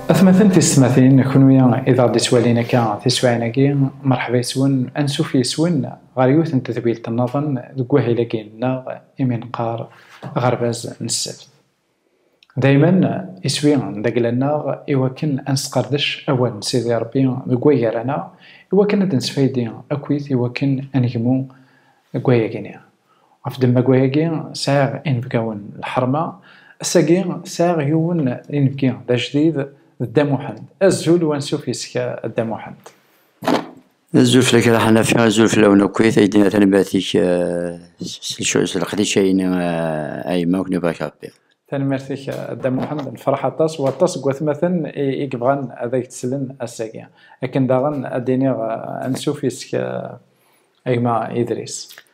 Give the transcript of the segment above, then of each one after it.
Atmaten tistmatin, kunwi i d aɣ d-ittwalin akka tiswaɛin-agi, merḥba yes-wen, ansuf yes-wen ɣer yiwet n tedwilt-nnaḍen deg wahil-agi-nneɣ imi neqqar aɣerbaz n ssebt. Daymen, iswi d agla-nneɣ i wakken ad nesqerdec awal n Sidi Ṛebbi deg wagar-aneɣ, i wakken ad d-nesfaydi akkit i wakken ad negmu deg wayagi-nni. Ɣef ddemma n wayagi, sɛiɣ inebgawen n lḥerma. Ass-agi, sɛiɣ yiwen n inebgi d ajdid, d Dda Muḥend. Azul u ansuf yes-k a Dda Muḥend! Azul fell-ak a Ḥanafi, azul fell-awen akkit, ay d-yenna tanebert-ik s leqdic ay yenna a yemma akk nebɣa-k Rebbi. Tanemmirt-ik a Dda Muḥend, nefṛeḥ aṭas, waṭas seg watmaten i yebɣan ad ak-d-slen ass-agi. Akken daɣen ad d-iniɣ ansuf yes-k a gma Idris.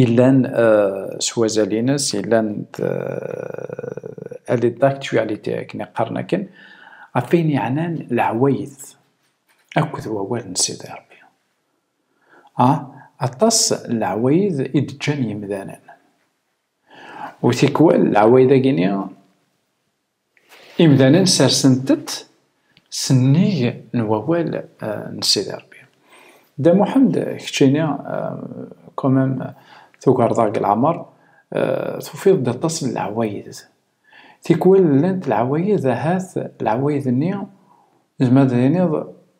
yellan s wazal-ines, yellan elle est d'actualité akken iqqaren akken, ɣef ayen yeɛnan leɛwayed akked wawal n Sidi Rebbi. A, aṭas n leɛwayed i d-ǧǧan yimdanen. U tikwal leɛwayed-agi-ni Imdanen sersen-tent s nnig n wawal n Sidi Rebbi. Dda Muḥend, keččini komam tugareḍ-aɣ deg leɛmer, tufiḍ-d aṭas n leɛwayed. Tikwal llant leɛwayed ahat leɛwayed-nni zemreḍ ad tiniḍ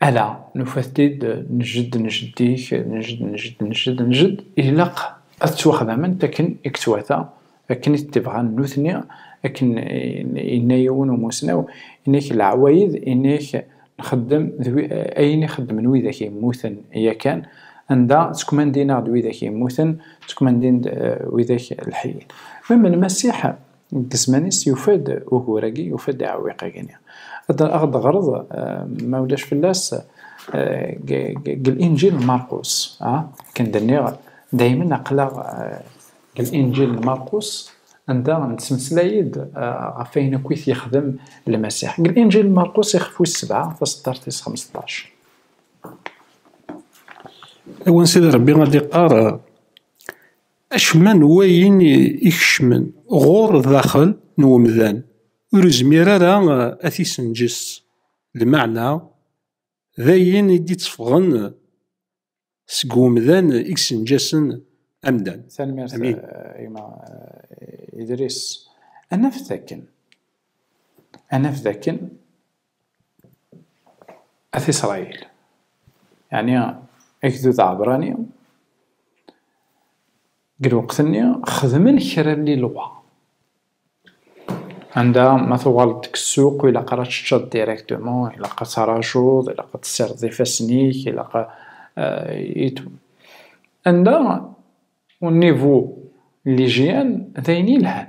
ala nufat-id nejjed njeddik nejjed nejjed nejjed nejjed ilaq ad ttwaxdament akken i yettwata akken i t-tebɣan nutni akken yenna yiwen umusnaw inek leɛwayed inek nxeddem ayen i xeddmen widak yemmuten yakan anda ttkmandin-aɣ-d widak yemmuten ttkmandin-d eh, widak lḥeyyin ma melmasiḥ Deg zzman-is yufa-d ugur-agi, yufa-d aɛewwiq-agi-nni. Ad d-teɣreḍ, ma ulac fell-as, deg Linǧil n Marqus. Akken d-nniɣ, daymen aql-aɣ deg Linǧil n Marqus, anda nettmeslay-d ɣef wayen akk i t-yexdem Lmasiḥ. Deg Linǧil n Marqus, ixef wis sebɛa, taṣeddart tis xmesṭac. Awen Sidi Rebbi ad d-iqqar. Acemma n wayen ikecmen ɣur daxel n umdan ur izmir ara ad t-isenǧes, lmeɛna d ayen i d-ittefɣen seg umdan i isenǧasen amdan. Tanemmirt a gma Idris. Ad naf dakken ad naf dakken At Isṛayil, yeɛni agdud aɛebrani, deg lweqt-nni xedmen kra n lilwa. Anda ma tuɣaleḍ deg ssuq, ilaq ara teččeḍ directement, ilaq ad tarajuḍ, ilaq ad tessireḍ ifassen-ik, ilaq euh, et tout. Anda, au niveau de l'hygiène, d ayen yelhan.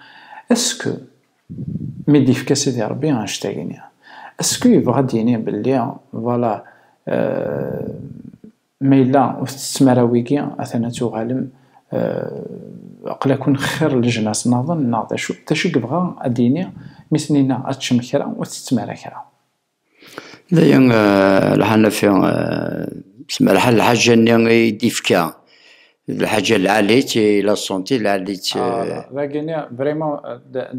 Esku mi d-ifka Sidi Ṛebbi annect-agi-nni, esku yebɣa ad d-yini belli vala ma yella ur tettettem ara wigi, atan ad tuɣalem aql-aken xir leǧnas naḍen neɣ d acu? D acu i yebɣa ad d-yini mi sen-yenna ad teččem kra ur tettettem ara kra? dayen lḥanafi semraḥen lḥaǧa nni i d-ifka d lḥaǧa lɛalit i la senti lɛalit dagi nni vraiment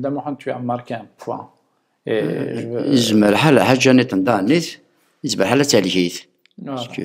dda muḥend tu as marqué un point et izmer ḥal lḥaǧa niḍen daɣen nit izmer ḥal ad talkit parce que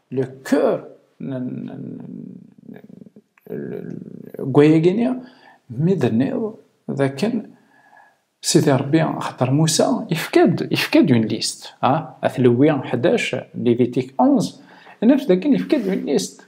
le cœur gwayaginni mi d-tenniḍ dakken Sidi Rebbi xaṭer Musa yefka-d yefka-d une liste ah at Lewi 11 Lévitique 11 naf dakken yefka-d une liste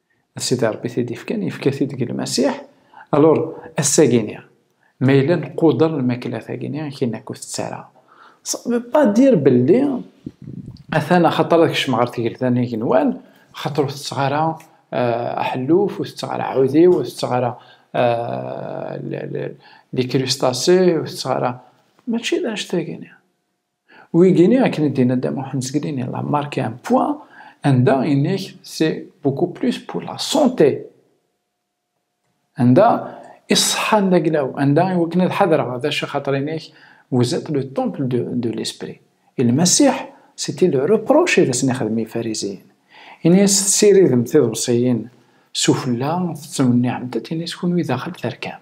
Sidi Rebbi t-id-ifkan, yefka-t-id deg Lmasiḥ. Alur, ass-agi-ni, ma yella nquder lmakla tagi-ni, akin akk tettara. Ça ne veut pas dire belli, atan axaṭer ad kecmeɣ ɣer tgelda n igenwan, axaṭer ur tetteɣ ara eh, aḥelluf, ur tetteɣ ara aɛudiw, ur tetteɣ ara eh, likrustasé, ur tetteɣ ara... Mačči d anect-agi-ni. Wigini akken i d-yenna Dda Muḥend Zgelini la marquer un point anda yenna-k c'est beaucoup plus pour la santé anda i ṣṣeḥḥa n daglaw anda i wakken ad ḥadreɣ ad acu axaṭer yenna-k vous êtes le temple de, de l'esprit et le Masiḥ c'était le reproche i d asen-ixdem Yifariziyen yenna-yas tessiridem tiḍebsiyin sufella tettwenniɛem-tent yenna-yas kunwi daxel terkam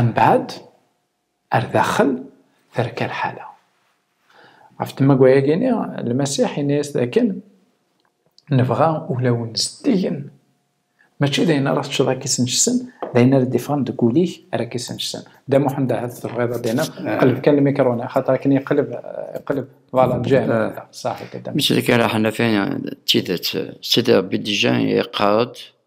Ambaɛd, ar daxel, terka lḥala. Ɣef tmagwa-yagi-ni, Lmasiḥ yenna-yas dakken, Nebɣa ulawen zeddigen. Mačči d ayen ara teččeḍ ad k-isnejsen, d ayen ara d-iffɣen deg wul-ik ara k-isnejsen. Dda Muḥend, ahat tebɣiḍ ad d-tiniḍ, qleb kan lmikrun, axaṭer akken iqleb, iqleb, vwala, ǧǧan. Saḥit a Dda Muḥend. Mačči d kra, ḥna kan d tidet. Sidi Ṛebbi Dijan yeqqar-d.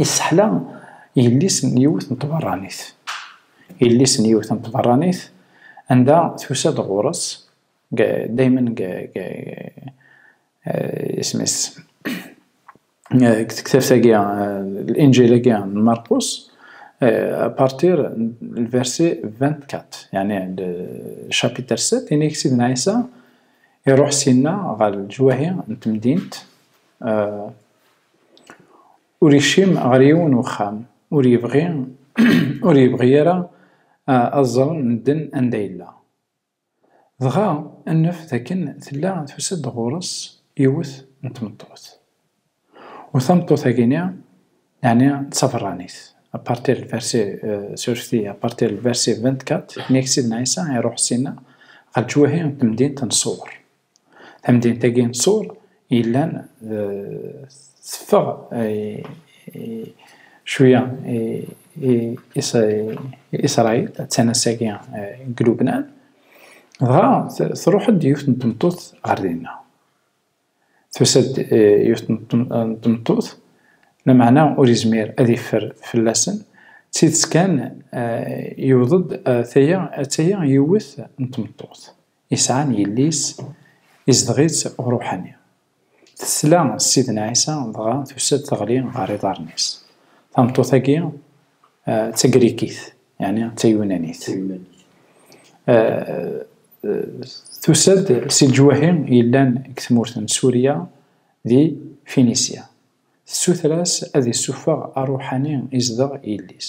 Yesseḥla yelli-s n yiwet n tbeṛṛanit. Yelli-s n yiwet n tbeṛṛanit anda tusa-d ɣur-s daymen deg isem-is deg tektabt-agi Linǧil-agi n Marqus apartir lversi ventkat yani chapitre sept inig Sidna Ɛisa iruḥ syenna ɣer leǧwahi n temdint Ur yekcim ɣer yiwen n uxxam, ur yebɣi ur yebɣi ara ad ẓren medden anda yella. Dɣa nnef d akken tella tusa-d ɣur-s yiwet n tmeṭṭut. U tameṭṭut-agi-ni, yeɛni d taberranit, à partir du verset surti à partir du verset vingt-quatre, mi ak Sidna Ɛisa iruḥ syenna ɣer leǧwahi n temdint n Ṣewwer. Tamdint-agi n Tṣur yellan teffeɣ cwiya Isṛayil, attan ass-agi deg Lubnan, dɣa tṛuḥ-d yiwet n tmeṭṭut ɣer dinna. Tusa-d yiwet n tmeṭṭut, lameɛna ur yezmir ad yeffer fell-asen, d tidet kan yewweḍ-d, ata-ya yiwet n tmeṭṭut. Isɛan yelli-s, izdeɣ-itt Uṛuḥani. Tesla s Sidna Ɛisa, dɣa tusa-d teɣli ɣer iḍarren-is. Tameṭṭut-agi d Tagrikit, yeɛni d Tayunanit. Tusa-d si leǧwahi yellan deg tmurt n Surya di Finisya. Tessuter-as ad issufeɣ aṛuḥani izdeɣ yelli-s.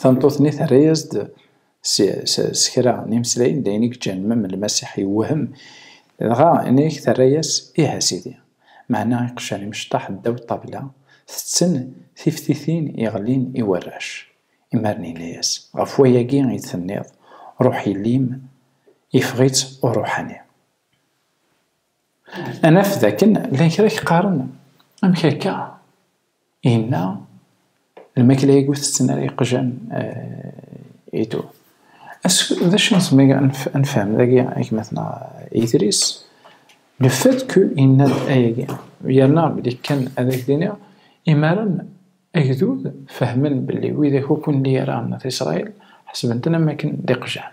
Tameṭṭut-nni terra-yas-d s kra n yimeslayen, d ayen i yeǧǧan mem Lmasiḥ yewhem. Dɣa ini-ak terra-yas, Ih a Sidi. Meɛna iqjan imecṭaḥ ddaw ṭṭabla, tetten tiftitin iɣlin i warrac. Imaren yenna-yas, Ɣef wayagi i d-tenniḍ, Ṛuḥ Yelli-m, yeffeɣ-itt uṛuḥani. Anaf dakken llan kra k-qqaren, amek akka? Inna, lmakla i gu-tetten ara yeqjan eh, idu. D acu nezmer ad nefhem dagi, gma-tneɣ eh, Idris? Le fait que inna-d ayagi, yerna belli kan ad ak-d-iniɣ, imaren agdud fehmen belli widak ukin d-yerran At Isṛayil, ḥesben-ten am wakken d iqjan.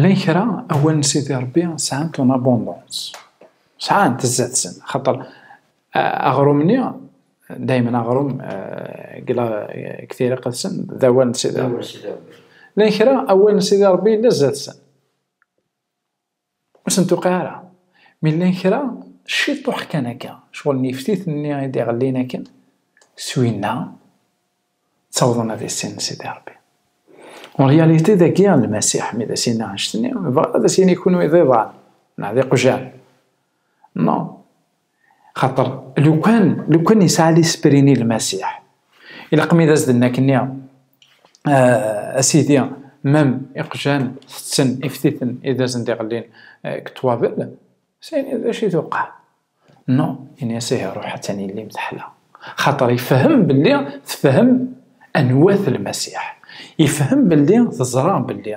Llan kra, awal n Sidi Ṛebbi, sɛan ton abondance. Sɛan tzat-sen, xaṭer aɣrum-nni, daymen aɣrum deg tiriqt-sen, d awal n Sidi Ṛebbi. Llan kra, awal n Sidi Ṛebbi yella zdat-sen. Ur sen-tuqiɛ ara. Mi llan kra, ciṭuḥ kan akka, cɣel n yiftit-nni i d-iɣellin akken, s winna, ttawḍen ad issinen Sidi Ṛebbi. En réalité, dagi, Lmasiḥ, mi d as-yenna annect-nni, yebɣa ad as-yini kunwi d iḍan, neɣ d iqjan. Non, xaṭer lukan lukan yesɛa lisprini lmasiḥ ilaqmi d as-d nekni euh, asidi mem iqjan tetten iftiten i d asen diɣellin euh, deg ṭwabel sani d acu i tuqeɛ no ini-as ihi ruḥ attan yellim teḥla xaṭer ifhem belli tefhem anwat lmasiḥ ifhem belli teẓra belli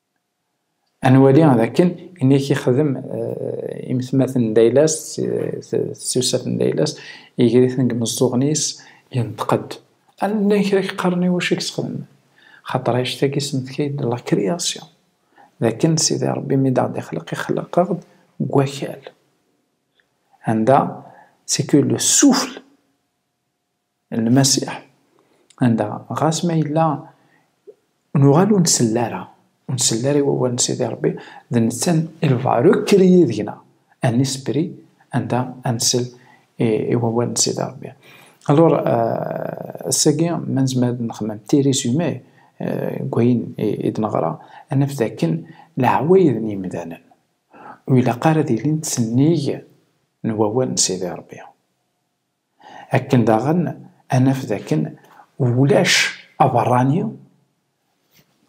Ad nwali d akken ini i k-ixdem eh, imetmaten n dayla-s, tsusat n dayla-s, iger-iten deg imeẓẓuɣen-is, yenṭeq-d. Ad nlay kra k-qqaren i wacu i k-sexdem. Xaṭer ayect-agi semmetka-yi-d la création, d akken Sidi Rebbi mi d-aɣ-d-ixleq, ixleq-aɣ-d deg wakal. Anda c'est que le souffle n Lmasiḥ, anda ɣas ma yella nuɣal ur nsell ara, ur nsell ara i wawal n Sidi Ṛebbi, d netta i lbaruk kriyé deg-na, un esprit, anda ad nsell i wawal n Sidi Ṛebbi. Alor, ass-agi ma nezmer ad nexmem petit résumé deg wayen i d-neɣra, ad naf d akken leɛwayed n yemdanen ur ilaq ara ad ilint sennig n wawal n Sidi Ṛebbi. Akken daɣen ad naf d akken ulac aberrani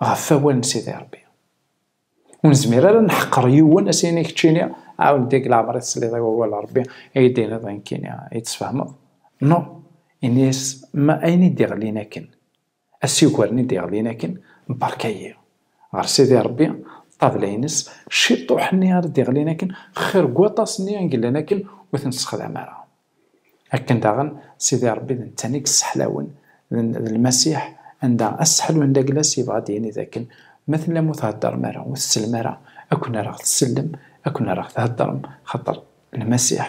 ɣef wawal n Sidi Rebbi. Ur nezmir ara ad neḥqer yiwen, a s-yini keččini, ɛawed deg leɛmer i tesliḍ i wawal n Rebbi, i yi-d-tiniḍ nekkini i tt-tfehmeḍ? Noo, ini-as ma ayen i d-iɣlin akken. Asiwel-nni d-yeɣlin akken, Beṛka-yi! Ɣer Sidi Ṛebbi, ṭṭabla-ines, ciṭuḥ-nni ara d-yeɣlin akken, xir deg waṭas-nni i yellan akken ur ten-nessexdam ara. Akken daɣen, Sidi Ṛebbi d netta i yesseḥlawen, d Lmasiḥ, anda asseḥlu n Laglas yebɣa ad d-yini d akken, Ma tellam ur theddṛem ara, ur tsellem ara, akken ara ɣ-tsellem, akken ara ɣ-theddṛem, xaṭer Lmasiḥ